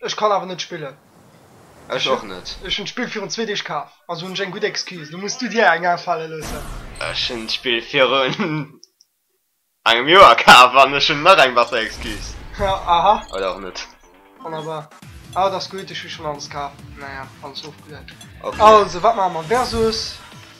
Ech kann awer net spillen. Ech och net. Ech hunn d'Spill virun zwee Deeg kaf, also hunn ech eng gutt Excuse. Lo muss du dir eng afale loossen. Ech hunn d'Spill virun engem Joer kaf an ech hunn nach eng besser Excuse. Aha. Oder och net. Wonnerbar. Ah, et ass gutt, ech hu schonn alles kaf. Naja, alles ofgelueden. Ok. Also, wat maache mer? Versus.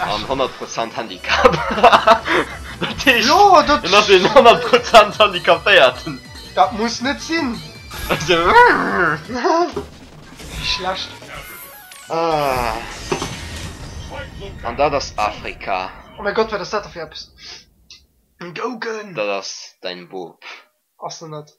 An 100 Prozent Handicap. Dat heescht, en ass een 100 Prozent Handicapéierten. Dat muss net sinn. Wéi schlecht. An dat ass Afrika. Oh mäi Gott, wat ass dat da fir eppes? Gougen! Dat ass däin Boob. Ass en net.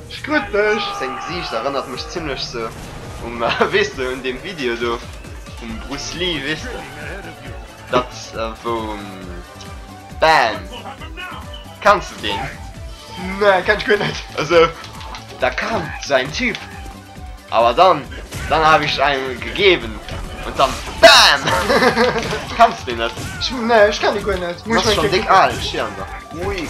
Ech krut dech! Sein Gesiicht erënnert mech zimlech sou um wees de un deem Video do vum Bruce Lee wees de dat wou bam kenns de deen? Nee kenn ech guer net esou da kam sou eng Typ awer dann dann hab ich ein gegeben und dann bam kenns de deen net? Nee ech kenn dee guer net muss ech meng Kéier kucken.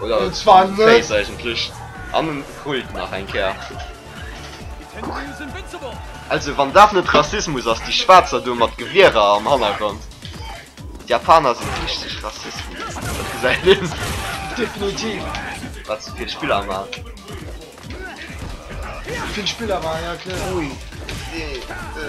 Oder den Zwan Face eigentlech. An den Kult nach eng Kéier. Kuck. Also wann dat net Rassismus ass, déi Schwaarzer do mat Gewierer am Hannergrond. D'Japaner sinn richteg Rassisten. Dat gesäit een. Definitiv. Wat se fir Spiller man. Vill Spiller man, ja kloer. Ui. Dee. Dë.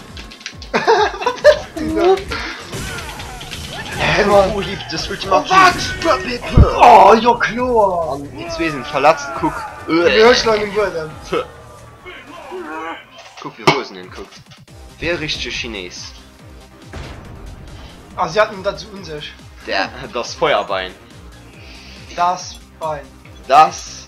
Oh jo kloer! An déi zwee sinn verletzt, kuck. Hues du an den Buedem? Kuck wéi Rosen en kuckt. Wéi e richtege Chinees. Ah si haten dat esou un sech. Daat ass Feuerbein. Daat ass Bein. Daat ass.